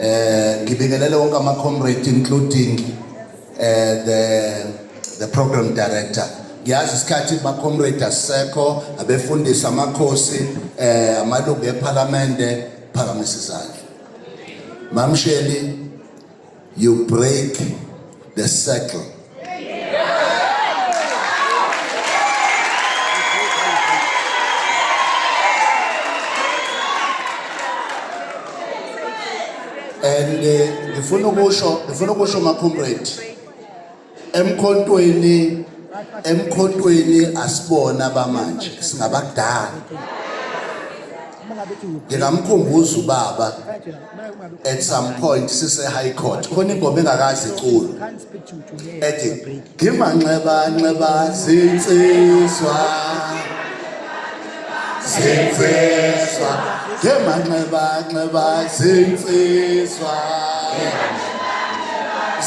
eh ngibingelele wonke ama comrade including eh the the program director ngiyazi isikhathi ba comrade asekho abefundisa amakhosi eh amalungu eParliament phakamisa izandla mamsheli You break the circle. And uh, ngifuna ukusho ngifuna ukusho ma comrade emkhontweni emkhontweni asibona abamanje singabadala ngingamkhumbuza ubaba at some point sise high court khona ingoma engakazi iculo ethi ngimanxeba nxeba zinsizwa zinsizwa ngemanxebanxeba zinsizwa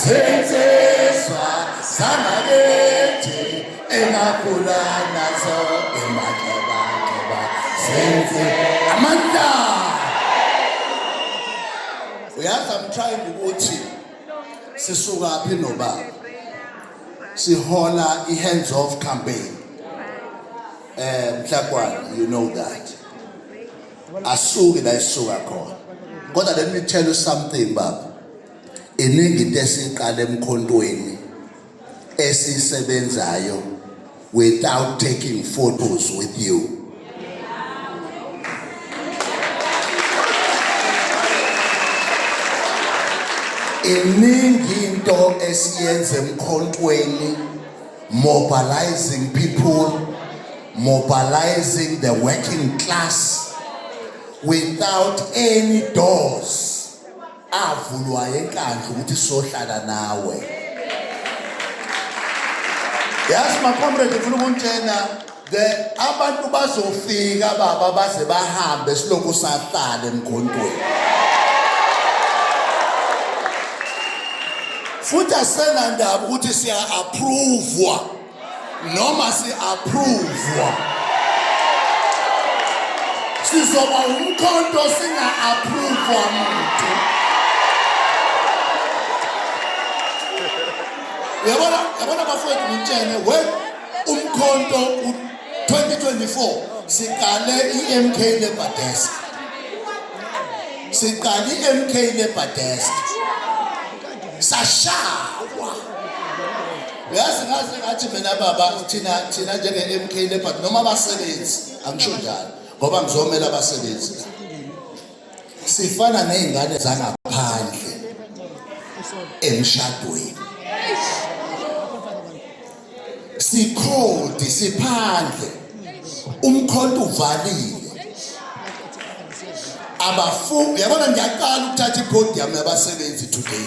zinsizwa zangakithi engakhula nazo emanxebanxeba zinsizwa amandla uyazi i'm trying ukuthi sisuka phi nobaba sihola i-hands off campaign Eh mhlakwana you know that. Asuki la isuka khona. Kodwa let me tell you something baba. Iningi into esiqala emkhontweni esisebenzayo without taking photos with you. iningi into esiyenza emkhontweni mobilizing people, mobilizing the working class without any doors avulwa enkandla ukuthi sohlala nawe yazi macomrade ngifuna ukunitshena The abantu bazofika baba baze bahambe silokhu sahlala emgondweni. Futhi asenandaba ukuthi siya approve noma si approve. Sizoba umkhonto singa approve muntu. Yabona yabona bafowethu ngitshene we umkhonto u-2024 siqale i-mk labour desk siqale i-mk labour desk sashawa yazi ngaze ngathi mina baba thina thina njenge-mk labour noma abasebenzi angisho njalo ngoba ngizomela abasebenzi sifana nezingane zangaphandle emshadweni sikhodi siphandle umkhonto uvalile abafu yabona ngiyaqala ukuthatha ipodium yabasebenzi today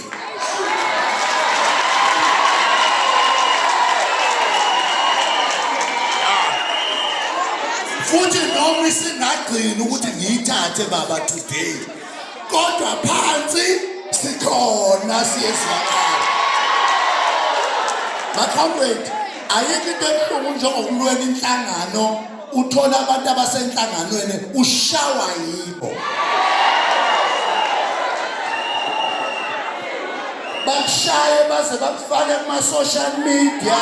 futhi noma isingagcini ukuthi ngiyithathe baba today kodwa phansi sikhona siyezwakala makhawuwethu ayikho into ebuhlungu njengokulwela inhlangano uthola abantu abasenhlanganweni ushawa yibo bakushaye baze bakufake kuma-social media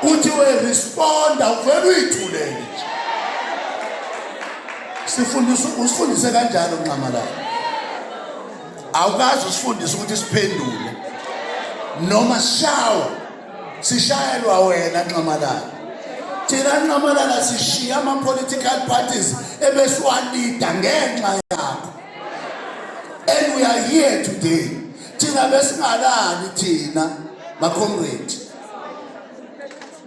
uthi we responda uvele uyithulele sifundisa usifundise kanjalo nxamalala awukazi usifundise ukuthi siphendule noma sishawa sishayelwa wena nxamalala thina nxamalala sishiya ama-political parties ebesiwalida ngenxa yakho and we are here today thina besingalali thina makhomredi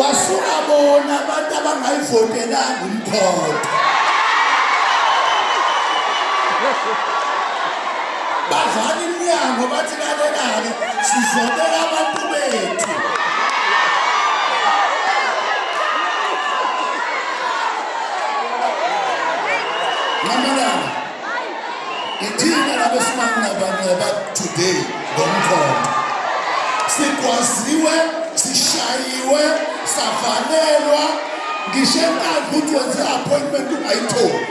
wasuka bona abantu abangayivotelanga umkhonto bavala iminyango bathi lalelake sizobela abantu bethu Ithina labesimanga banqoba today ngomkhonto. Sigwaziwe, sishayiwe, savalelwa ngisho enkandla ukuthi wenze appointment ungayitholi.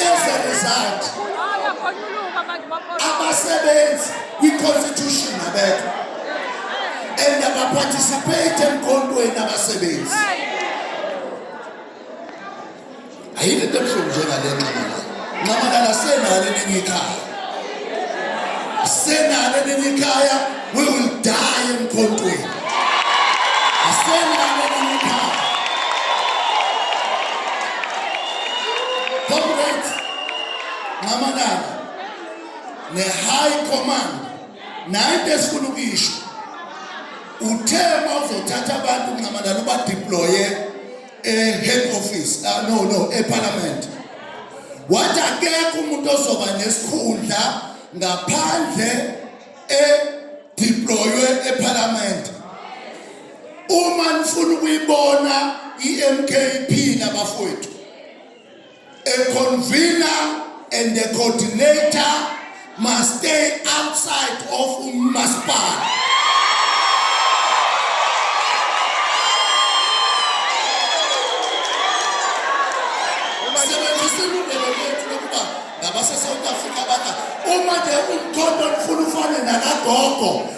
As a result, abasebenzi kwi-constitution abekho and abaparticipate emkhontweni abasebenzi ayile nto ebuhlungu njengale nxamalala nxamalala senalo elinye ikhaya senalo elinye ikhaya we will die emkhontweni asenalo elinye ikhaya comrades nxamalala ne-high command naye into esifuna ukuyisho uthe uma uzothatha abantu kungamanani ubadeploye e-head office uh, no no eparliament wathi akekho umuntu ozoba nesikhundla ngaphandle edeploywe eparliament uma nifuna ukuyibona i-mkp nabafowethu A convener and the coordinator must stay outside of umasipala sebenzisa ilungelo lethu lokuba ngabasesouth africa baka uma nje umkhonto mfuna ufane nakagogo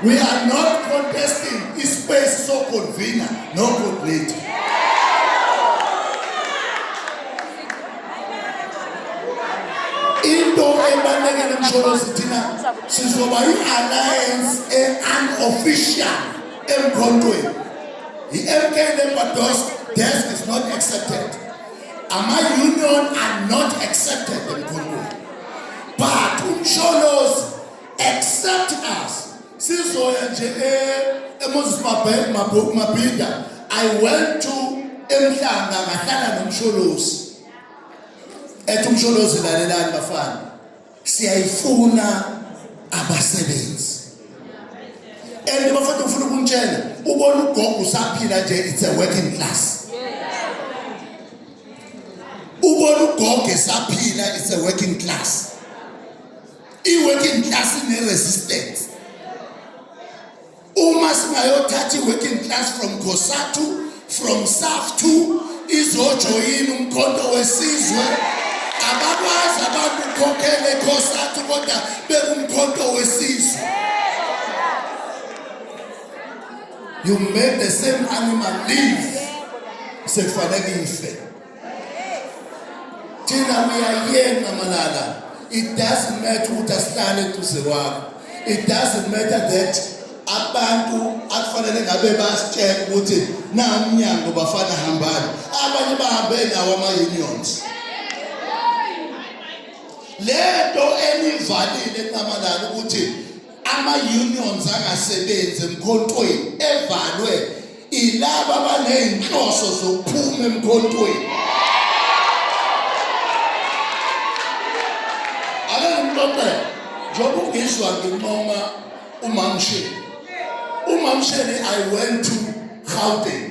We are not contesting ispace so convener no coordinator. Into ebalekele msholozi thina sizoba i-alliance e-unofficial emkhontweni. I-MK Lembados desk is not accepted. Ama union are not accepted emkhontweni. But umsholozi accept us sizoya nje eMoses Mabheka Mabhuku Mabhinda I went to emhlanga ngahlala nomsholozi ethi umsholozi lalelani bafana siyayifuna abasebenzi and bafana ufuna ukuntshela ubona ugogo usaphila nje it's a working class ubona ugogo esaphila it's a working class I-working class ine-resistance. Uma singayothatha i-working class from Cosatu, from Saftu, izojoyina umkhonto wesizwe. Abakwazi abantu ukukhokhela eCosatu kodwa bekumkhonto wesizwe. You made the same animal live. Sekufanele ife. thina uyayena malala it doesn't matter ukuthi asihlale eduze kwakho it doesn't matter that abantu akufanele ngabe basitshela ukuthi na umnyango bafana hambani abanye bahambe nawo ama-unions lento enivalile nqamalala ukuthi ama-unions angasebenzi emkhontweni evalwe ilaba baney'nhloso zokuphuma emkhontweni ake ngimxoxele njengoba ungizwa nginqoma umamshini umamshini i went to gauteng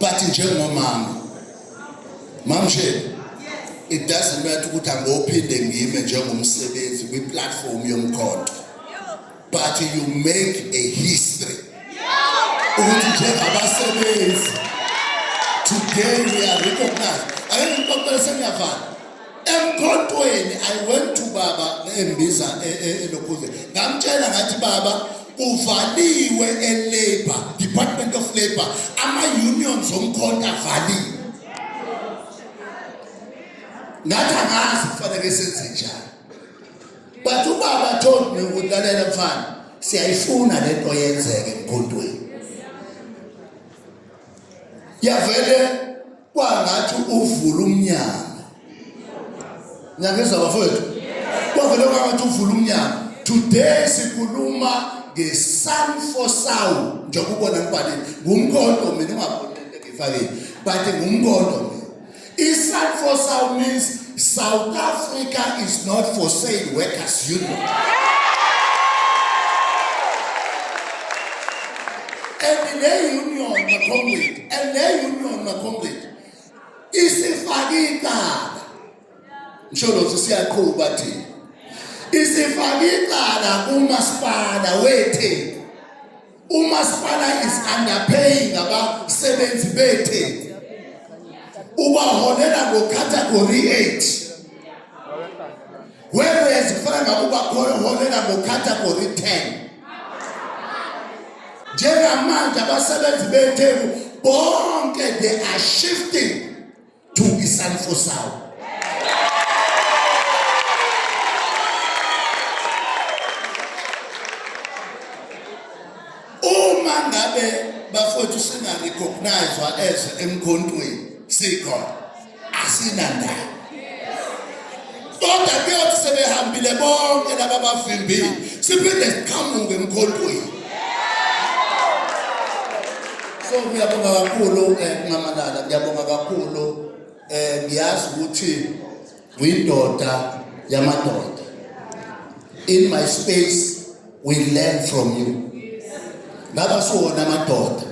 but njengomama mamshele it doesn't matter ukuthi angophinde ngime njengomsebenzi kwi-platform yomkhonto but you make a history ukuthi njengabasebenzi today we are recognized ake ngikuxoxele sengiyavala emkhontweni i went to baba embiza elokhuzeni e, e, ngamtshela ngathi baba uvaliwe elabor department of labor ama-unions omkhonto avaliwe ngathi angazi kufanele senze njani but ubaba told me ukuthi lalela mfana siyayifuna le nto yenzeke emkhontweni yavele kwangathi uvula umnyango niyangizwa bafowethu kwavele kwangathi uvula umnyango today sikhuluma ngesun for sound njengoba ubona ngibhalile ngumkhonto mina ungabonile ngifakile but ngumkhonto isun for sound means South Africa is not for sale workers union. And le union makhomredi, and le union makhomredi isifake icala. Ngisho lothi siyaqhuba thina. Isifake icala kumasipala weTheku Umasipala is underpaying abasebenzi beTheku. Ubaholela ngo category 8. Whereas kufana ngakuba holela ngo category 10. Njengamanje abasebenzi beTheku bonke they are shifting to be sun for sound. Uma ngabe bafowethu singarecognize as emkhontweni sikhona asinandaba kodwa kuyothi sebehambile bonke laba bavimbile siphinde siqhamuke emkhontweni so ngiyabonga kakhulu eh, nxamalala ngiyabonga kakhulu eh ngiyazi ukuthi uyindoda yamadoda in my space we learn from you ngaba siwona amadoda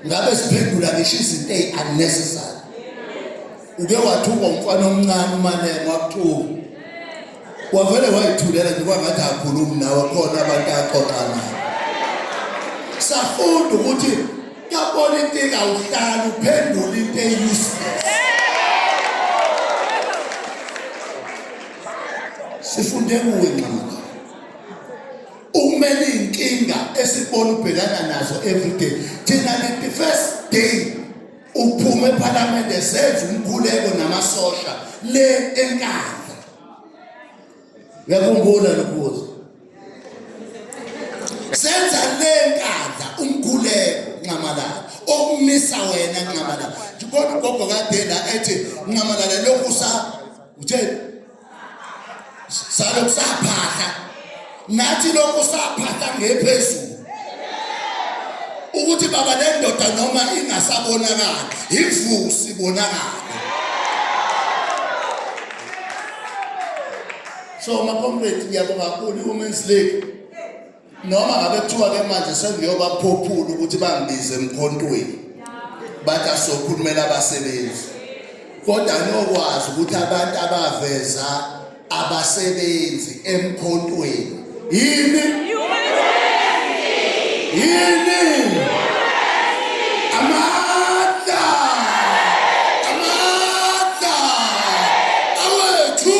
ngabe siphendula ngisho izinto ey unnecessary uke wathukwa umfana omncane umanene wakuthuka wavele wayithulela nje kwangathi akhulumi nawe khona abantu axoxa naye safunda ukuthi yabona into engawuhlala uphendula into eyuseless sifunde kuwe nxamaka ukumele iy'nkinga esibona ubhekana nazo everyday thina the first day uphume ephalamende senze umkhuleko namasosha le enkandla yakhumbula lokubuza senza le nkandla umkhuleko nxamalala okumisa wena nxamalala kodwa ugogo kade la ethi nxamalala lokhu sa uthe salo kusaphahla nathi lokhu saphahla ngephezulu ukuthi baba le ndoda noma ingasabonakali ivusi bonakala so makomredi ngiyabonga kakhulu i-women's league noma ngabe kuthiwa ke manje sengiyobaphophula ukuthi bangibize emkhontweni bathi asokhulumela abasebenzi kodwa nokwazi ukuthi abantu abaveza abasebenzi emkhontweni yini yini amandla amandla awethu